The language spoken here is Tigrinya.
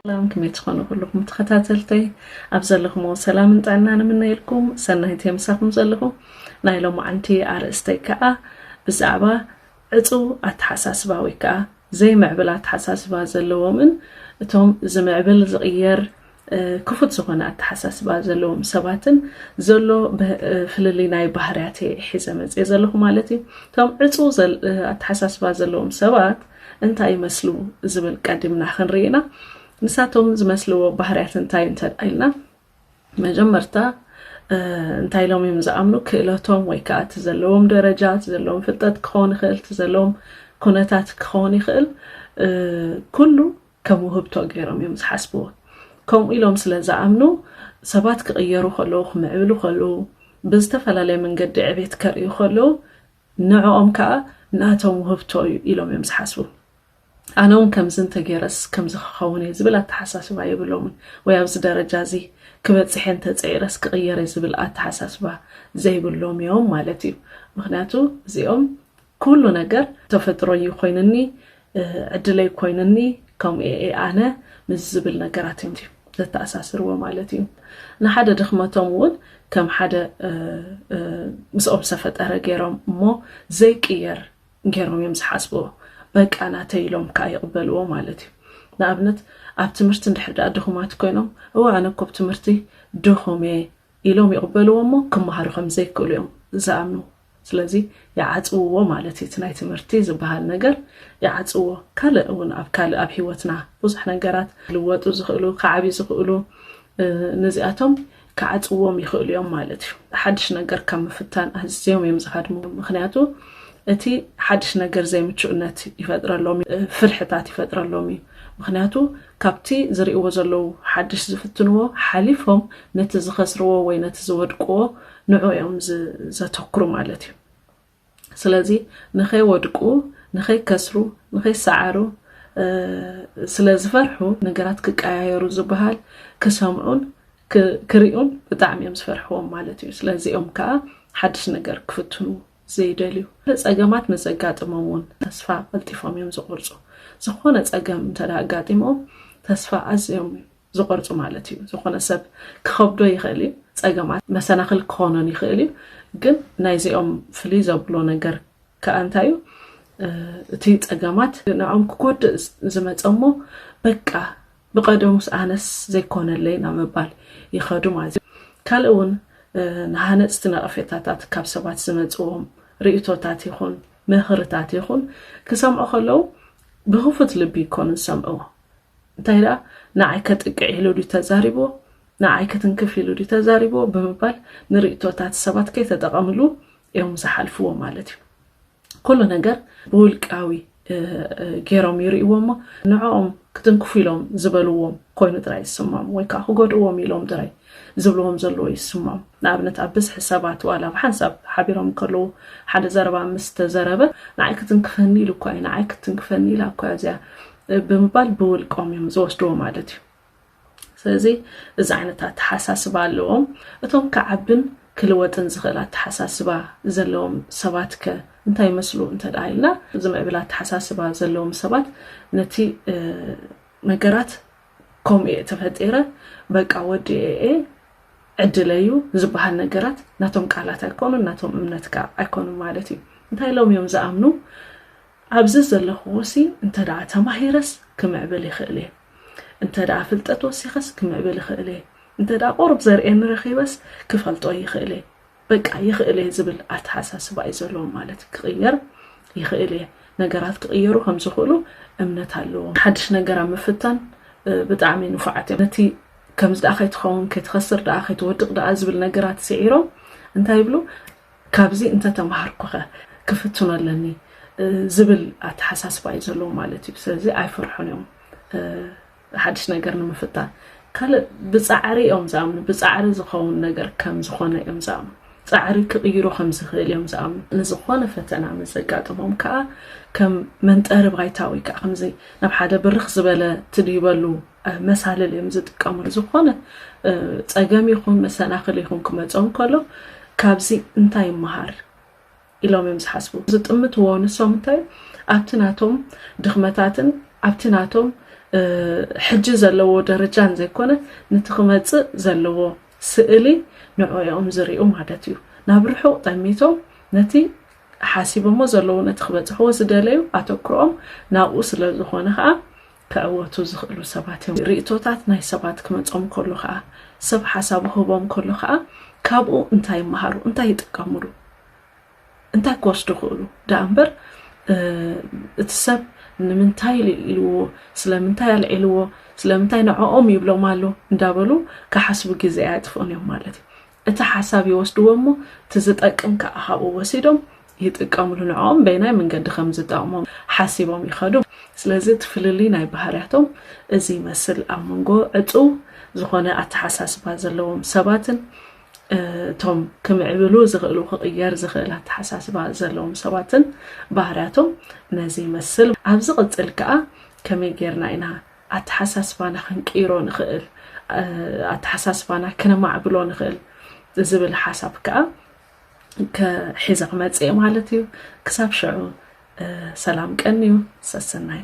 ሰላም ክመይ ትኾኑ ኩልኹም ተኸታተልተይ ኣብ ዘለኹምዎ ሰላምን ጥዕና ንምነየልኩም ሰናይቲ ምሳኹም ዘለኹም ናይ ሎማዓንቲ ኣርእስተይ ከዓ ብዛዕባ ዕጽው ኣተሓሳስባ ወይ ከኣ ዘይምዕብል ኣተሓሳስባ ዘለዎምን እቶም ዝምዕብል ዝቕየር ክፉት ዝኾነ ኣተሓሳስባ ዘለዎም ሰባትን ዘሎ ፍልልይ ናይ ባህርያት እየ ሒዘ መጽኤ ዘለኹ ማለት እዩ። እቶም ዕጹው ኣተሓሳስባ ዘለዎም ሰባት እንታይ ይመስሉ ዝብል ቀዲምና ክንርኢና ንሳቶም ዝመስልዎ ባህርያት እንታይ እንተ ኢልና መጀመርታ እንታይ ኢሎም እዮም ዝኣምኑ ክእለቶም ወይ ከዓ እቲ ዘለዎም ደረጃ እቲ ዘለዎም ፍልጠት ክኸውን ይኽእል እቲ ዘለዎም ኩነታት ክኸውን ይኽእል ኩሉ ከም ውህብቶ ገይሮም እዮም ዝሓስብዎ ከምኡ ኢሎም ስለ ዝኣምኑ ሰባት ክቕየሩ ከለዉ ክምዕብሉ ከለዉ ብዝተፈላለየ መንገዲ ዕቤት ከርእዩ ከለዉ ንዕኦም ከዓ ናቶም ውህብቶ እዩ ኢሎም እዮም ዝሓስቡ ኣነ ውን ከምዚ እንተጌረስ ከምዚ ክኸውን እየ ዝብል ኣተሓሳስባ የብሎምን ወይ ኣብዚ ደረጃ እዚ ክበጽሕ እየ እንተጸዒረስ ክቕየር እየ ዝብል ኣተሓሳስባ ዘይብሎም እዮም ማለት እዩ ምክንያቱ እዚኦም ኩሉ ነገር ተፈጥሮ እዩ ኮይኑኒ ዕድለይ ኮይኑኒ ከምኡ እየ ኣነ ምስ ዝብል ነገራት እዮም እዩ ዘተኣሳስርዎ ማለት እዩ ንሓደ ድኽመቶም እውን ከም ሓደ ምስኦም ዝተፈጠረ ገይሮም እሞ ዘይቅየር ጌሮም እዮም ዝሓስብዎ በቃ ናተይ ኢሎም ከኣ ይቅበልዎ ማለት እዩ ንኣብነት ኣብ ትምህርቲ እንድሕር ደኣ ድኹማት ኮይኖም እወ ኣነ እኮ ብ ትምህርቲ ድኹም እየ ኢሎም ይቅበልዎ እሞ ክመሃሩ ከም ዘይክእሉ እዮም ዝኣምኑ ስለዚ ይዓጽውዎ ማለት እዩ እቲ ናይ ትምህርቲ ዝበሃል ነገር ይዓጽዎ ካልእ እውን ኣብ ካልእ ኣብ ሂወትና ብዙሕ ነገራት ክልወጡ ዝኽእሉ ክዓብዩ ዝኽእሉ ነዚኣቶም ክዓጽዎም ይኽእሉ እዮም ማለት እዩ። ሓድሽ ነገር ካብ ምፍታን ኣዝዮም እዮም ዝሃድሙ፣ ምኽንያቱ እቲ ሓድሽ ነገር ዘይምቹእነት ይፈጥረሎም እዩ፣ ፍርሕታት ይፈጥረሎም እዩ፣ ምኽንያቱ ካብቲ ዝርእይዎ ዘለዉ ሓድሽ ዝፍትንዎ ሓሊፎም ነቲ ዝኸስርዎ ወይ ነቲ ዝወድቅዎ ንዑ እዮም ዘተኩሩ ማለት እዩ። ስለዚ ንኸይወድቁ፣ ንኸይከስሩ፣ ንኸይሰዓሩ ስለ ዝፈርሑ ነገራት ክቀያየሩ ዝበሃል ክሰምዑን ክሪኡን ብጣዕሚ እዮም ዝፈርሕዎም ማለት እዩ። ስለዚ እዮም ከዓ ሓድሽ ነገር ክፍትኑ ዘይደልዩ። ፀገማት ምስ ዘጋጥሞም እውን ተስፋ ቀልጢፎም እዮም ዝቆርፁ። ዝኾነ ፀገም እንተ ኣጋጢሞም ተስፋ ኣዝዮም ዝቆርጹ ማለት እዩ ዝኾነ ሰብ ክኸብዶ ይኽእል እዩ ጸገማት መሰናኽል ክኾኖን ይኽእል እዩ ግን ናይዚኦም ፍልይ ዘብሎ ነገር ከኣ እንታይ እዩ እቲ ጸገማት ንዕኦም ክጎድእ ዝመጸ እሞ በቃ ብቐደሙስ ኣነስ ዘይኮነለይ ናብ ምባል ይኸዱ ማለት እዩ ካልእ እውን ንሃነፅቲ ነቐፌታታት ካብ ሰባት ዝመፅዎም ርእቶታት ይኹን ምኽርታት ይኹን ክሰምዑ ከለዉ ብክፉት ልቢ ይኮኑ ዝሰምዕዎ እንታይ ደኣ ንዓይ ከጥቅዕ ኢሉ ድዩ ተዛሪብዎ፣ ንዓይ ክትንክፍ ኢሉ ድዩ ተዛሪብዎ ብምባል ንርእይቶታት ሰባት ከይተጠቐምሉ እዮም ዝሓልፍዎ ማለት እዩ። ኩሉ ነገር ብውልቃዊ ገይሮም ይርእይዎ እሞ ንዕኦም ክትንክፉ ኢሎም ዝበልዎም ኮይኑ ጥራይ ይስምዖም ወይ ከዓ ክጎድእዎም ኢሎም ጥራይ ዝብልዎም ዘለዎ ይስምዖም። ንኣብነት ኣብ ብዝሒ ሰባት ዋላ ብሓንሳብ ሓቢሮም ከለዉ ሓደ ዘረባ ምስ ተዘረበ ንዓይ ክትንክፈኒ ኢሉ እኳ እዩ፣ ንዓይ ክትንክፈኒ ኢላ እኳ እዚኣ ብምባል ብውልቆም እዮም ዝወስድዎ ማለት እዩ ስለዚ እዚ ዓይነት ኣተሓሳስባ ኣለዎም እቶም ክዓብን ክልወጥን ዝኽእል ኣተሓሳስባ ዘለዎም ሰባት ከ እንታይ ይመስሉ እንተ ደኣ ኢልና ዝምዕብል ኣተሓሳስባ ዘለዎም ሰባት ነቲ ነገራት ከምኡ እየ ተፈጢረ በቃ ወዲ ኤኤ ዕድለ እዩ ዝበሃል ነገራት ናቶም ቃላት ኣይኮኑን ናቶም እምነት ከዓ ኣይኮኑን ማለት እዩ እንታይ ኢሎም እዮም ዝኣምኑ ኣብዚ ዘለኽዎሲ እንተድኣ ተማሂረስ ክምዕብል ይኽእል'የ፣ እንተድኣ ፍልጠት ወሲኸስ ክምዕብል ይኽእል'የ፣ እንተድኣ ቁሩብ ዘርእየኒ ረኺበስ ክፈልጦ ይኽእል'የ፣ በቃ ይኽእል'የ ዝብል ኣተሓሳስባ እዩ ዘለዎ ማለት ክቕየር ይኽእል'የ፣ ነገራት ክቕየሩ ከም ዝኽእሉ እምነት ኣለዎም። ሓድሽ ነገር ኣብ ምፍታን ብጣዕሚ ንፉዓት እዮም። ነቲ ከምዚ ድኣ ከይትኸውን፣ ከይትኸስር ድኣ፣ ከይትወድቕ ድኣ ዝብል ነገራት ስዒሮም እንታይ ይብሉ? ካብዚ እንተተማሃርኩኸ ክፍትኖ ኣለኒ ዝብል ኣተሓሳስባ እዩ ዘለዎም ማለት እዩ። ስለዚ ኣይፈርሑን እዮም ሓድሽ ነገር ንምፍታን። ካልእ ብፃዕሪ እዮም ዝኣምኑ፣ ብፃዕሪ ዝኸውን ነገር ከም ዝኾነ እዮም ዝኣምኑ። ፃዕሪ ክቕይሮ ከም ዝኽእል እዮም ዝኣምኑ። ንዝኾነ ፈተና ምስ ዘጋጥሞም ከዓ ከም መንጠሪ ባይታ ወይ ከዓ ከምዚ ናብ ሓደ ብርኽ ዝበለ ትድይበሉ መሳልል እዮም ዝጥቀምሉ ዝኾነ ፀገም ይኹን መሰናኽል ይኹን ክመፆም ከሎ ካብዚ እንታይ ይመሃር ኢሎም እዮም ዝሓስቡ ዝጥምትዎ ንሶም እንታይ ኣብቲ ናቶም ድኽመታትን ኣብቲ ናቶም ሕጂ ዘለዎ ደረጃን ዘይኮነ ነቲ ክመፅእ ዘለዎ ስእሊ ንዕኦም ዝርኡ ማለት እዩ ናብ ርሑቕ ጠሚቶም ነቲ ሓሲቦሞ ዘለዉ ነቲ ክበፅሕዎ ዝደለዩ ኣተኩሮኦም ናብኡ ስለ ዝኾነ ከዓ ክዕወቱ ዝኽእሉ ሰባት እዮም። ርእይቶታት ናይ ሰባት ክመጾም ከሎ ከኣ፣ ሰብ ሓሳቡ ክህቦም ከሎ ከኣ፣ ካብኡ እንታይ ይመሃሩ፣ እንታይ ይጥቀምሉ፣ እንታይ ክወስዱ ክእሉ ደኣ እምበር እቲ ሰብ ንምንታይ ኢልዎ፣ ስለምንታይ ኣልዒልዎ፣ ስለምንታይ ንዕኦም ይብሎም ኣሎ እንዳበሉ ክሓስቡ ግዜ ኣየጥፍኡን እዮም ማለት እዩ። እቲ ሓሳብ ይወስድዎ እሞ እቲ ዝጠቅም ከኣ ካብኡ ወሲዶም ይጥቀምሉ ንዕኦም በየናይ መንገዲ ከም ዝጠቕሞም ሓሲቦም ይኸዱ ስለዚ እቲ ፍልልይ ናይ ባህርያቶም እዚ ይመስል ኣብ መንጎ ዕጽው ዝኾነ ኣተሓሳስባ ዘለዎም ሰባትን እቶም ክምዕብሉ ዝኽእሉ ክቕየር ዝኽእል ኣተሓሳስባ ዘለዎም ሰባትን ባህርያቶም ነዚ ይመስል ኣብ ዝቕጽል ከኣ ከመይ ጌርና ኢና ኣተሓሳስባና ክንቅይሮ ንኽእል፣ ኣተሓሳስባና ክነማዕብሎ ንኽእል ዝብል ሓሳብ ከዓ ሒዘ ክመፅእ እየ ማለት እዩ። ክሳብ ሽዑ ሰላም ቀንዩ ሰሰናዩ